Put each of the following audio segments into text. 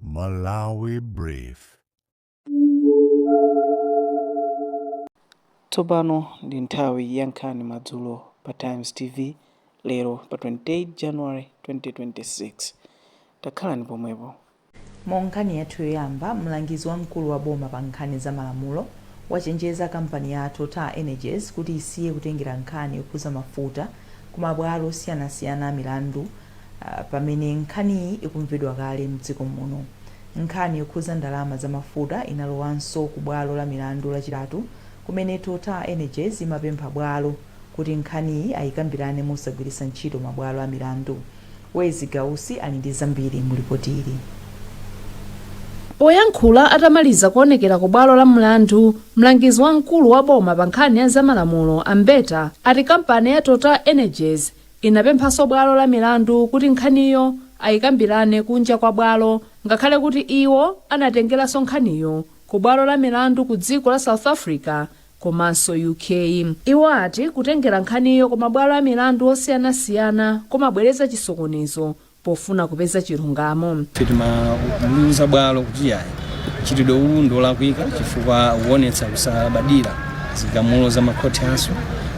Malawi Brief. Tsopano ndi nthawi ya nkhani madzulo pa Times TV lero pa 28 January 2026. Takhalani pomwepo. Mu nkhani yathu yoyamba, mlangizi wamkulu wa boma pa nkhani za malamulo wachenjeza kampani ya TotalEnergies kuti isiye kutengera nkhani yokhuza mafuta, kumabwalo osiyanasiyana a milandu pamene nkhaniyi ikumvedwa kale m'dziko muno. Nkhani yokhuza ndalama za mafuta inalowanso ku bwalo la milandu Lachitatu kumene TotalEnergies imapempha bwalo kuti nkhaniyi ayikambirane mosagwiritsa ntchito mabwalo a milandu. Wezi Gausi ali ndi zambiri mu lipoti ili. Poyankhula atamaliza kuonekera ku bwalo la mlandu, mlangizi wamkulu wa boma pa nkhani ya za malamulo a Mbeta ati kampani ya Total Energies inapemphanso bwalo la milandu kuti nkhaniyo ayikambirane kunja kwa bwalo ngakhale kuti iwo anatengeranso nkhaniyo ku bwalo la milandu ku dziko la South Africa komanso UK. Iwo ati kutengera nkhaniyo ku mabwalo a milandu osiyanasiyana kumabweretsa chisokonezo pofuna kupeza chilungamo. Ife timaliuza bwalo kuti iyayi, mchitidwe uwu ndi olakwika chifukwa ukuonetsa kusalabadira zigamulo za makhoti athu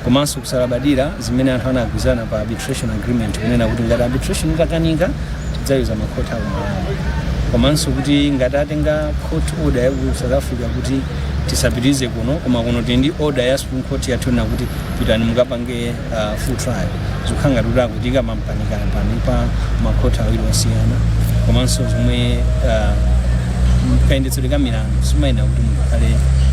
komanso kusalabadira zimene anthu anagwizana pa arbitration agreement kunena kuti ngati arbitration itakanika tidzayuza makhoti a ku Malawi komanso kuti ngati atenga court order ya ku South Africa kuti tisapitirize kuno koma kuno tili ndi order ya supreme court yotiuza kuti pitani mukapange uh, full trial zikukhala ngati kuti akutiika m'mpanipani pa makhoti awiri osiyana komanso zomwe uh, kayendetsedwe ka milandu simayenera kuti munthu akhale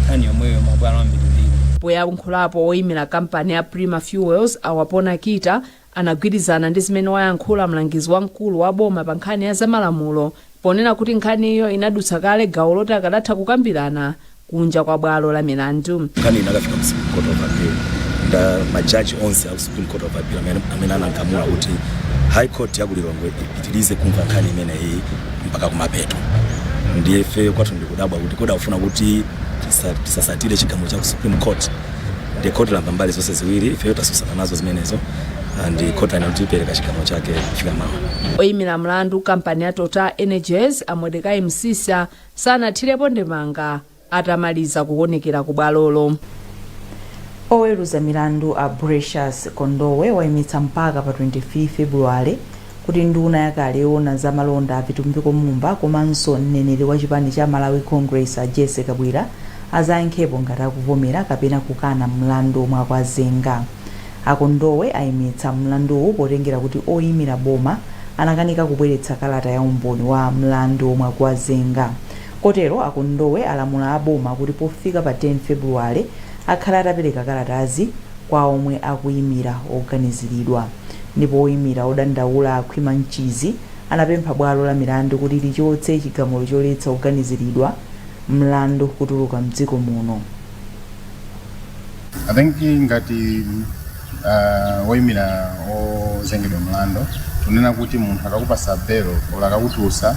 nkhani yomweyo mabwalo ambirimbiri poyankhulapo woyimira kampani ya prima fuels a Wapona Kita anagwirizana ndi zimene wayankhula mlangizi wamkulu wa boma pa nkhani ya zamalamulo ponena kuti nkhaniyo inadutsa kale gawo loti akadatha kukambirana kunja kwa bwalo la milandu. Nkhani inakafika ku Supreme Court of Appeal ndi majaji onse a ku Supreme Court of Appeal amene, amene anagamula kuti High Court ya ku Lilongwe ipitirize kumva nkhani imeneyi mpaka kumapeto. Ndiye ife kwathu ndikudabwa kuti kodi akufuna kuti tisa- tisasatire chigamulo cha ku Supreme Court ndiye khoti lamva mbali zonse ziwiri ifeyo tatsutsana nazo zimenezo ndi khoti lanena kuti ipereka chigamulo chake kufika mawa oyimira mlandu kampani ya total energies a mordecai msisha sanathirepo ndemanga atamaliza kuwonekera ku bwalolo oweruza milandu a precious kondowe wayimitsa mpaka pa 25 februwale kuti nduna yakale yoona za malonda a Vitumbiko Mumba komanso mneneri wa chipani cha Malawi Congress a Jessie Kabwila azayankhepo ngati akuvomera kapena kukana mlandu omwe akuwazenga. A Kondowe ayimitsa mlanduwu potengera kuti oyimira boma anakanika kubweretsa kalata ya umboni wa mlandu omwe akuwazenga. Kotero a Kondowe alamula a boma kuti pofika pa 10 February akhale atapereka kalatazi kwa omwe akuyimira oganiziridwa. ndipo oyimira odandaula a Khwima Mchizi anapempha bwalo la milandu kuti lichotse chigamulo choletsa oganiziridwa mlandu kutuluka m'dziko muno. I think ngati uh, woimira ozengedwa mlandu tunena kuti munthu akakupasa belo ola akakutulutsa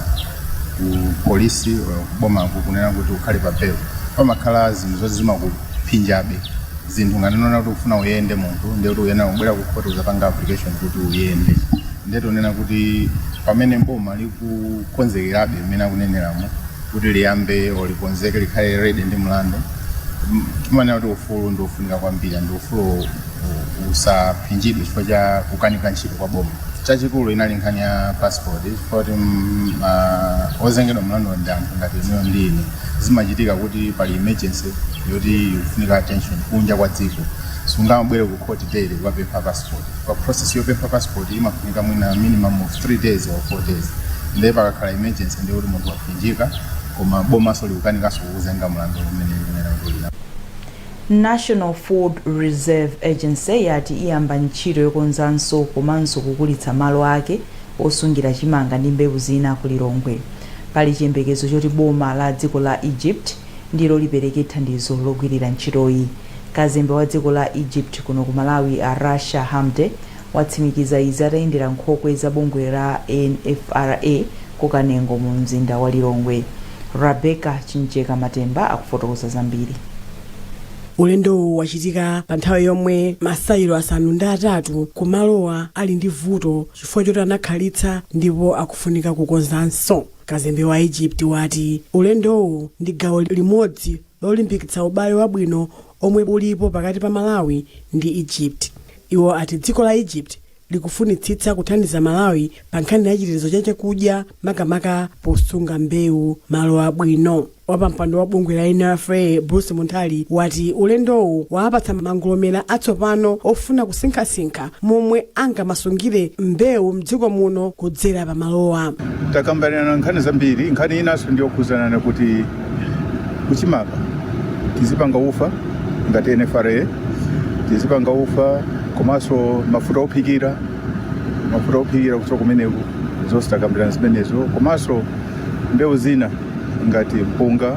ku polisi ola kubomako kunena kuti ukhale pa belo pamakhala zinthu zoti zimakuphinjabe zinthu ngati kunena kuti ufuna uyende munthu ndiye kuti uyenera kubwera ku khoti uzapanga application kuti uyende ndiye tunena kuti pamene boma likukonzekerabe mmene akuneneramo kuti liyambe olikonzeke likhale ready ndi mlandu m- timanena kuti ufulu ndi wofunika kwambiri ndi ufulu u- usaphinjidwe chifukwa cha kukanika ntchito kwa boma chachikulu inali nkhani ya passport poti ozengedwa mlandu ndi anthu ngati inuyo ndi ine zimachitika kuti pali emergency yoti ikufunika attention kunja kwa dziko sungabwere ku court daily kukapempha passport pa process yopempha passport imafunika mwina minimum of 3 days or 4 days ndiye pakakhala emergency ndiye kuti munthu waphinjika koma bomanso likukanikanso kukuzenga mlandu umene umene kulina national food reserve agency yati iyamba ntchito yokonzanso komanso kukulitsa malo ake osungira chimanga ndi mbewu zina ku Lilongwe. Pali chiyembekezo choti boma la dziko la Egypt ndilo lipereke thandizo logwirira ntchitoyi. Kazembe wa dziko la Egypt kuno ku Malawi a Rasha Hamdy watsimikiza izi atayendera nkhokwe za bungwe la NFRA ku Kanengo mu mzinda wa Lilongwe. Rebecca Chimjeka Matemba akufotokoza zambiri. Ulendowu wachitika pa nthawi yomwe masayilo asanu ndi atatu ku malowa ali ndi vuto chifukwa choti anakhalitsa ndipo akufunika kukonzanso. Kazembe wa Egypt wati ulendowu ndi gawo limodzi lolimbikitsa ubale wabwino omwe ulipo pakati pa Malawi ndi Egypt. Iwo ati dziko la Egypt likufunitsitsa kuthandiza Malawi pa nkhani ya chitetezo cha chakudya makamaka posunga mbewu malo abwino. Wapampando wa bungwe la NFRA Bruce Munthali wati ulendowu wawapatsa mangolomera atsopano ofuna kusinkhasinkha momwe angamasungire mbewu mdziko muno kudzera pa malowa. takambirana nkhani zambiri nkhani inanso ndi yokhudzana ndi kuti kuchimanga tizipanga ufa ngati nfra tizipanga ufa komanso mafuta ophikira mafuta ophikira kuchoka kumeneko zonse takambirana zimenezo komanso mbewu zina ngati mpunga,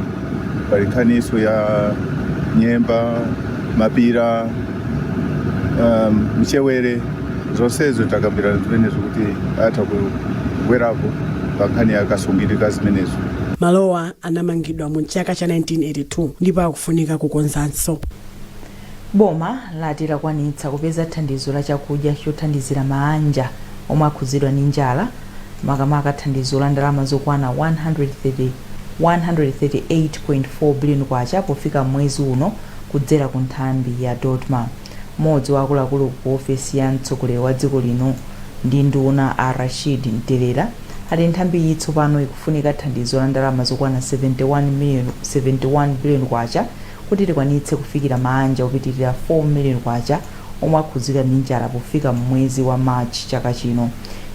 pali nkhaniso ya nyemba, mapira, um, mchewere zonsezo takambirana zimenezo kuti atha kubwerapo pa nkhani ya kasungidwe ka zimenezo Malowa anamangidwa mu chaka cha 1982 ndipo akufunika kukonzanso. Boma lati lakwanitsa kupeza thandizo la chakudya chothandizira maanja omwe akhudzidwa ndi njala makamaka thandizo la ndalama zokwana 130 K138.4 billion pofika mwezi uno kudzera ku nthambi ya Dodma. Mmodzi wa akuluakulu ku ofesi ya mtsogoleri wa dziko lino ndi nduna a Rashid Mtelera ati nthambiyi tsopano ikufunika thandizo la ndalama zokwana 71 million K71 billion Kuti likwanitse kufikira maanja opitilira 4 million kwacha omwe akhudzidwa ndi njala pofika mmwezi wa March chaka chino,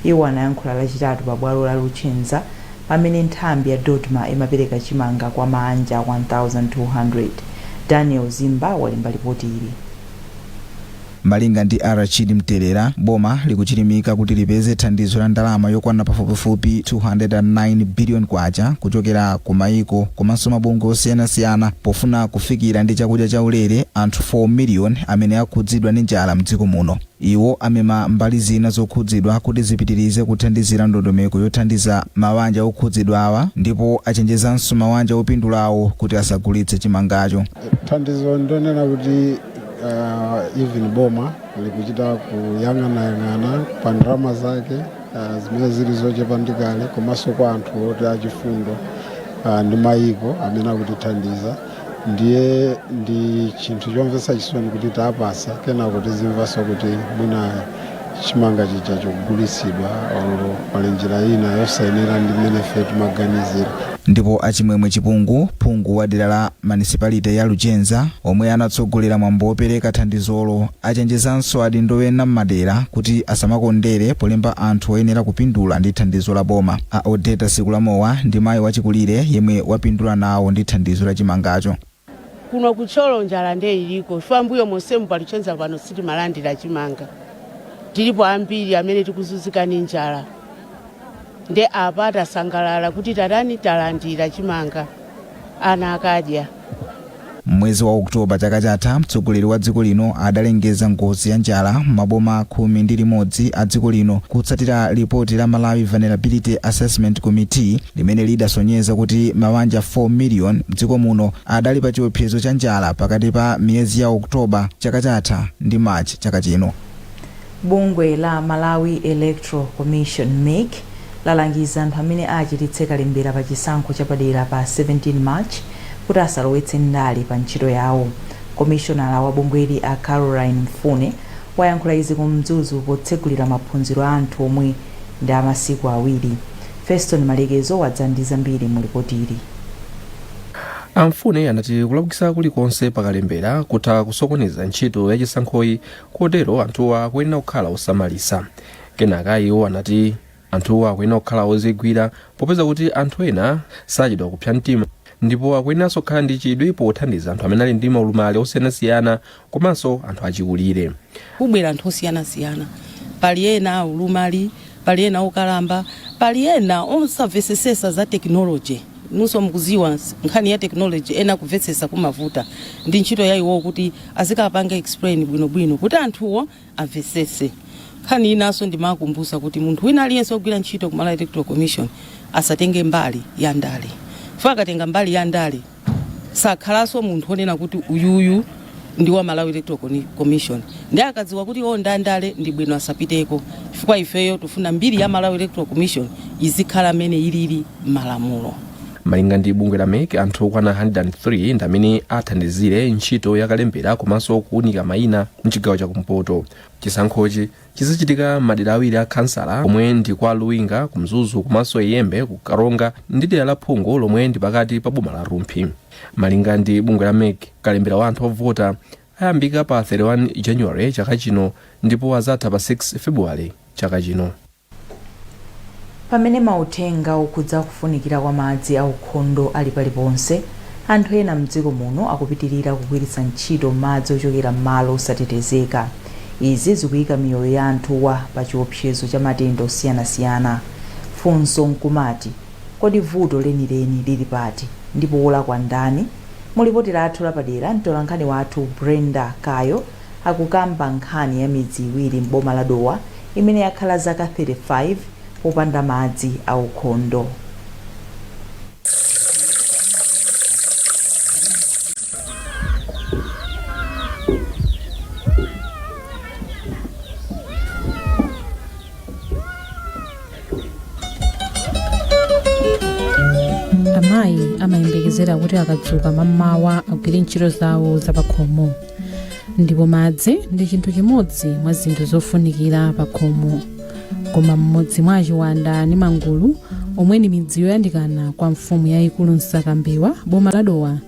iwo anayankhula lachitatu pa bwalo la Luchenza pamene nthambi ya Dodma imapereka chimanga kwa maanja 1200. Daniel Zimba walemba lipoti ili. Malinga ndi Rashid Mtelera, boma likuchilimika kuti lipeze thandizo la ndalama yokwana pafupifupi K209 billion kuchokera ku maiko komanso mabungwe osiyanasiyana pofuna kufikira ndi chakudya chaulere anthu 4 million amene akhudzidwa ndi njala mdziko muno. Iwo amema mbali zina zokhudzidwa kuti zipitilize kuthandizira ndondomeko yothandiza mawanja okhudzidwawa ndipo achenjezanso mawanja opindulawo kuti asagulitse chimangacho. Thandizo ndonena kuti uh, even boma likuchita kuyang'anayang'ana pa ndalama zake uh, zimene zili zochepa ndi kale komanso kwa anthu oti achifundo uh, ndi mayiko amene akutithandiza ndiye ndi chinthu chomvetsa chisoni kuti tawapasa kenako tizimvanso kuti mwina chimanga chija chagulitsidwa or pali njira ina yosayenera ndi mmene ife timaganizira. Ndipo a Chimwemwe Chipungu, phungu wa dera la manisipalite ya Luchenza, omwe anatsogolera mwambo wopereka thandizolo, achenjezanso adindo ena m'madera kuti asamakondere polemba anthu oyenera kupindula ndi thandizo la boma. A Odeta Sikulamowa ndi mayi wachikulire yemwe wapindula nawo ndi thandizo la chimangacho. Kuno ku Thyolo njala nde iliko chifukwa mbuyo monsemu pa Luchenza pano sitimalandira chimanga. Tilipo ambiri amene tikuzunzika ndi njala nde apa tasangalala kuti tatani talandira chimanga ana akadya. M'mwezi wa October chaka chatha, mtsogoleri wa dziko lino adalengeza ngozi ya njala m'maboma khumi ndi limodzi a dziko lino kutsatira lipoti la Malawi Vulnerability Assessment Committee, limene lidasonyeza kuti mawanja 4 million mdziko muno adali pa chiopsezo cha njala pakati pa miyezi ya October chaka chatha ndi March chaka chino. Bungwe la Malawi Electoral Commission mec lalangiza anthu amene achititse kalembera pa chisankho chapadera pa 17 March kuti asalowetse ndale pa ntchito yawo. Komishonala wa bungweli a Caroline Mfune wayankhula izi ku Mzuzu potsegulira maphunziro a anthu omwe Ndi a masiku awiri. Feston Malekezo wadza ndi zambiri mu lipotili. A Mfune anati kulakwitsa kulikonse pa kalembera kutha kusokoneza ntchito ya chisankhoyi kotero anthuwa akuyenera kukhala osamalitsa. Kenaka iwo anati anthuwa akuyenera kukhala ozigwira popeza kuti anthu ena sachedwa kupsa mtima ndipo akuyeneranso kukhala ndi chidwi pothandiza anthu amene ali ndi maulumali osiyanasiyana komanso anthu achikulire. Kubwera anthu osiyanasiyana, pali ena aulumali, pali ena okalamba, pali ena osamvetsesa za technology. Inunso mukuziwa nkhani ya technology ena kumvetsesa kumavuta. Ndi ntchito ya iwowo kuti azikapange explain bwinobwino kuti anthuwo amvetsetse. Nkhani inanso ndimawakumbutsa kuti munthu wina aliyense wogwira ntchito ku Malawi Electoral Commission asatenge mbali ya ndale chifukwa akatenga mbali ya ndale sakhalanso munthu wonena kuti uyuyu ndi wa Malawi Electoral Coni- Commission nde akadziwa kuti iwo ndi andale ndi bwino asapiteko chifukwa ifeyo tifuna mbiri ya Malawi Electoral Commission izikhala mmene ilili m'malamulo. malinga ndi bungwe la mec anthu okwana 103 ndi amene athandizire ntchito yakalembera komanso kuunika mayina mchigawo chakumpoto chisankhochi chizachitika mmadera awiri a khansala omwe ndi kwa luwinga ku mzuzu komanso iyembe ku karonga ndi dera la phungu lomwe ndi pakati pa boma la rumphi malinga ndi bungwe la mec kalembera wa anthu ovota ayambika pa 31 january chaka chino ndipo azatha pa 6 february chaka chino Pamene mauthenga okhudza kufunikira kwa madzi aukhondo ali paliponse, anthu ena m'dziko muno akupitilira kugwiritsa ntchito madzi ochokera m'malo osatetezeka. Izi zikuika miyoyo ya anthuwa pa chiopsezo cha matenda osiyanasiyana. Funso nkumati, Kodi vuto lenileni lili pati? Ndipo wolakwa ndani? Mu lipoti lathu lapadera, mtolankhani wathu Brenda Kayo, akukamba nkhani ya midzi iwiri m'boma la Dowa imene yakhala zaka 35 popanda madzi aukhondo. amayi amayembekezera kuti akadzuka mamawa agwire ntchito zawo zapakhomo ndipo madzi ndi chinthu chimodzi mwa zinthu zofunikira pa khomo koma m'mudzi mwa a Chiwanda ndi mangulu omwe ndi midzi yoyandikana kwa mfumu yayikulu Msakambewa boma la dowa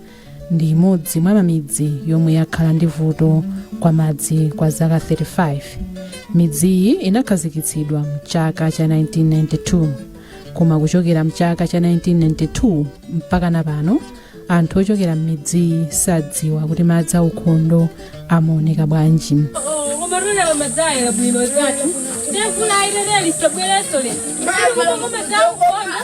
ndi imodzi mwa mamidzi yomwe yakhala ndi vuto kwa madzi kwa zaka 35 midziyi inakhazikitsidwa mchaka cha 1992 koma kuchokera mchaka cha 1992 mpaka na pano anthu ochokera m'midziyi sadziwa kuti madzi aukhondo amaoneka bwanji koma tolera madzayera bwino zatu ndevula airere lisabwereso le koma madzaukona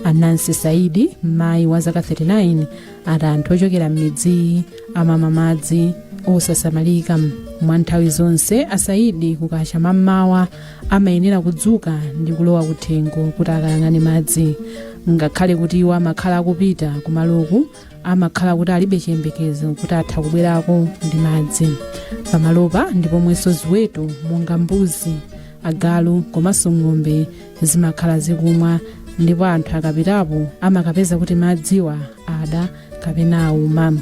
a Nancy Saidi mayi wa zaka 39 ati anthu ochokera m'midziyi amamwa madzi osasamalika mwa nthawi zonse a Saidi kukacha mammawa amayenera kudzuka ndi kulowa kuthengo kuti akayang'ane madzi ngakhale kuti iwo amakhala akupita kumaloku amakhala kuti alibe chiyembekezo kuti atha kubwerako ndi madzi pamalopa ndi pomwenso ziweto monga mbuzi agalu komanso ng'ombe zimakhala zikumwa ndipo anthu akapitapo amakapeza kuti madziwa ada kapena auma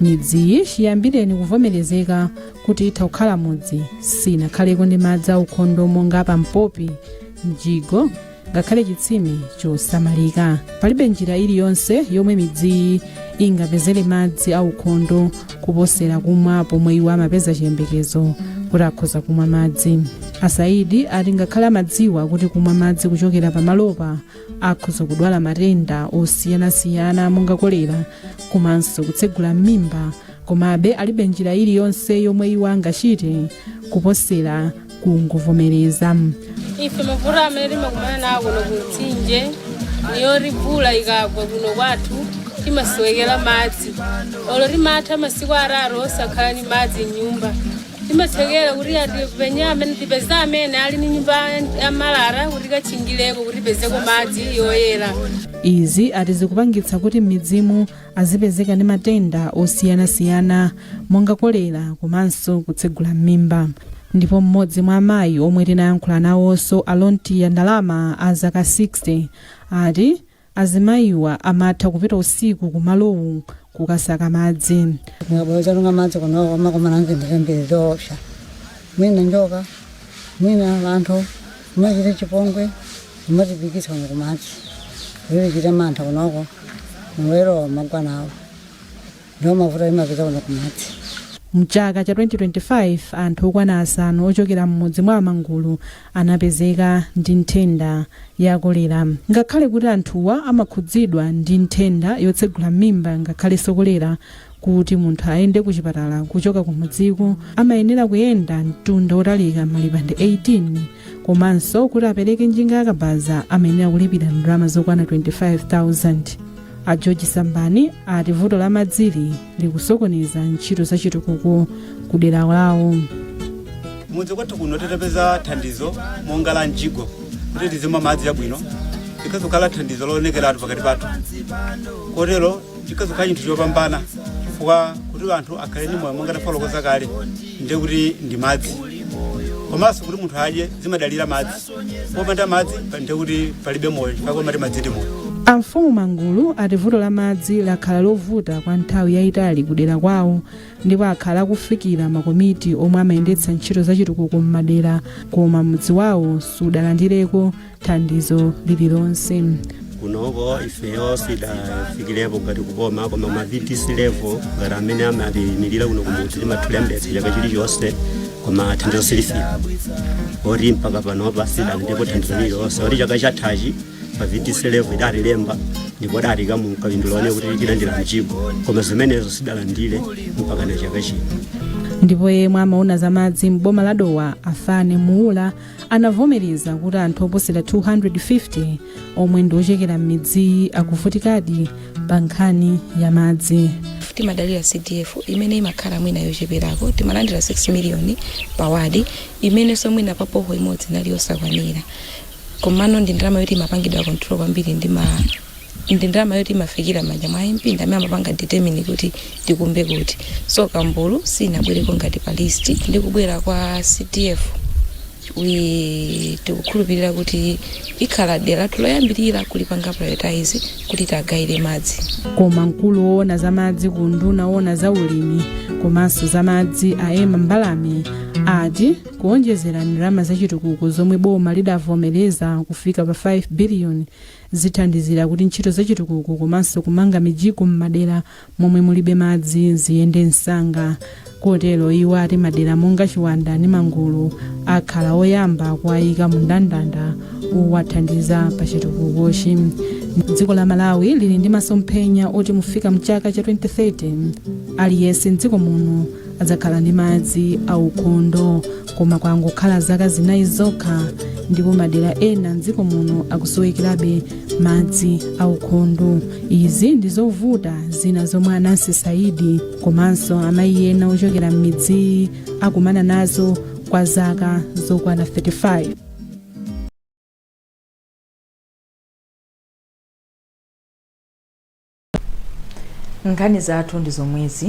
midziyi chiyambireni kuvomerezeka kuti itha kukhala mudzi sinakhaleko ndi madzi aukhondo monga pampopi mjigo ngakhale chitsime chosamalika palibe njira iliyonse yomwe midziyi ingapezere madzi aukhondo kuposera kumwa pomwe iwo amapeza chiyembekezo kuti akhoza kumwa madzi a Saidi ati ngakhale amadziwa kuti kumwa madzi kuchokera pamalopa akhoza kudwala matenda osiyanasiyana monga kolera komanso kutsegula m'mimba komabe alibe njira iliyonse yomwe iwo angachite kuposera kungovomereza ife mavuto amene timakumana nawo kuno kumtsinje niyoti vula ikagwa kuno kwathu timasowekera madzi olo timatha masiku atatu osakhala ni madzi m'nyumba timathekera kuti atipenye amene tipeze amene ali ndi nyumba ya malata kuti tikatchingireko kuti tipezeko madzi yoyera izi ati zikupangitsa kuti m'midzimu azipezeka ndi matenda osiyanasiyana monga kolera komanso kutsegula m'mimba ndipo mmodzi mwa amayi omwe tinayankhula nawonso a Lontiya Ndalama a zaka 60 ati Azimayiwa amatha kupita usiku ku malowu kukasaka madzi. Mukabwera kutunga madzi kuno amakumana ndi zinthu zambiri zoopsa. Mwina njoka, mwina anthu, amachita chipongwe, mumatipitikitsa kuno kumadzi. Timachita mantha kunoko, mulero magwa nawo. Ndiwo mavuto timapeza kuno kumadzi. Mchaka cha 2025 anthu okwana asanu ochokera m'mudzi mwa a Mangulu anapezeka ndi nthenda ya kolera. Ngakhale kuti anthuwa amakhudzidwa ndi nthenda yotsegula m'mimba ngakhalenso kolera, kuti munthu ayende ku chipatala kuchoka kumudziko amayenera kuyenda mtunda wotalika malipande 18 komanso kuti apereke njinga yakabaza amayenera kulipira ndalama zokwana 25,000. a george sambani ati vuto la madzili likusokoneza ntchito za chitukuko ku dera lawo kumudzi kwathu kuno titapeza thandizo monga la mjigo kuti tizimwa madzi abwino likhoza kukhala thandizo loonekeratu pakati pathu kotero chikhoza kukhala chinthu chopambana chifukwa kuti anthu akhale ndi moyo monga tafotokoza kale ndiye kuti ndi madzi komanso kuti munthu adye zimadalira madzi popanda madzi ndiye kuti palibe moyo chifukwa amati madzi ndi moyo Amfumu Mangulu ati vuto la madzi lakhala lovuta kwa nthawi yayitali kudera kwawo ndipo akhala akufikira makomiti omwe amayendetsa ntchito zachitukuko m'madera koma mudzi wawo sudalandireko thandizo lililonse. kunoko ifeyo sitidafikirepo ngati kuboma koma ma vdc level ngati amene amatiyimirira kuno kumudzi timatha kulembetsa chaka chilichonse koma thandizo silifika oti mpaka panopa sitidalandirepo thandizo lililonse oti chaka chathachi pa vdc level adatilemba ndipo adatiika mu ka priority one kuti tilandira mjigo koma zimenezo sitidalandire mpaka chaka chino ndipo yemwe amaona za madzi m'boma la dowa a fane muula anavomereza kuti anthu oposera 250 omwe ndi ochokera m'midziyi akuvutikadi pa nkhani ya madzi timadalira cdf imene imakhala mwina yocheperako timalandira 6 miliyoni pa wadi imenenso mwina pa boho imodzi inali yosakwanira komano ndi ndalama yoti imapangidwa control kwambiri ndi ma ndi ndalama yoti imafikira mmanja mwa mp ndi amene amapanga determine kuti tikumbe kuti so mangulu sinabwereko ngati pa list ndi kubwera kwa cdf iye tikukhulupirira kuti ikhala dera lathu loyambirira kulipanga prioritize kuti tiwagayire madzi koma mkulu woona za madzi ku unduna woona za ulimi komanso za madzi a ema mbalame ati kuonjezera ndalama zachitukuko zomwe boma lidavomereza kufika pa 5 biliyoni zithandizira kuti ntchito zachitukuko komanso kumanga mijigo m'madera momwe mulibe madzi ziyende msanga kotero iwo ati madera monga chiwanda ndi mangulu akhala oyamba kuwayika mu ndandanda owathandiza pa chitukukochi dziko la malawi lili ndi masomphenya oti pofika mchaka cha 2030 aliyense mdziko muno adzakhala ndi madzi aukhondo koma kwangokhala zaka zinayi zokha ndipo madera ena mdziko muno akusowekerabe madzi aukhondo izi ndi zovuta zina zomwe anansi saidi komanso amayi ena ochokera m'midziyi akumana nazo kwa zaka zokwana 35 nkhani zathu ndi zomwezi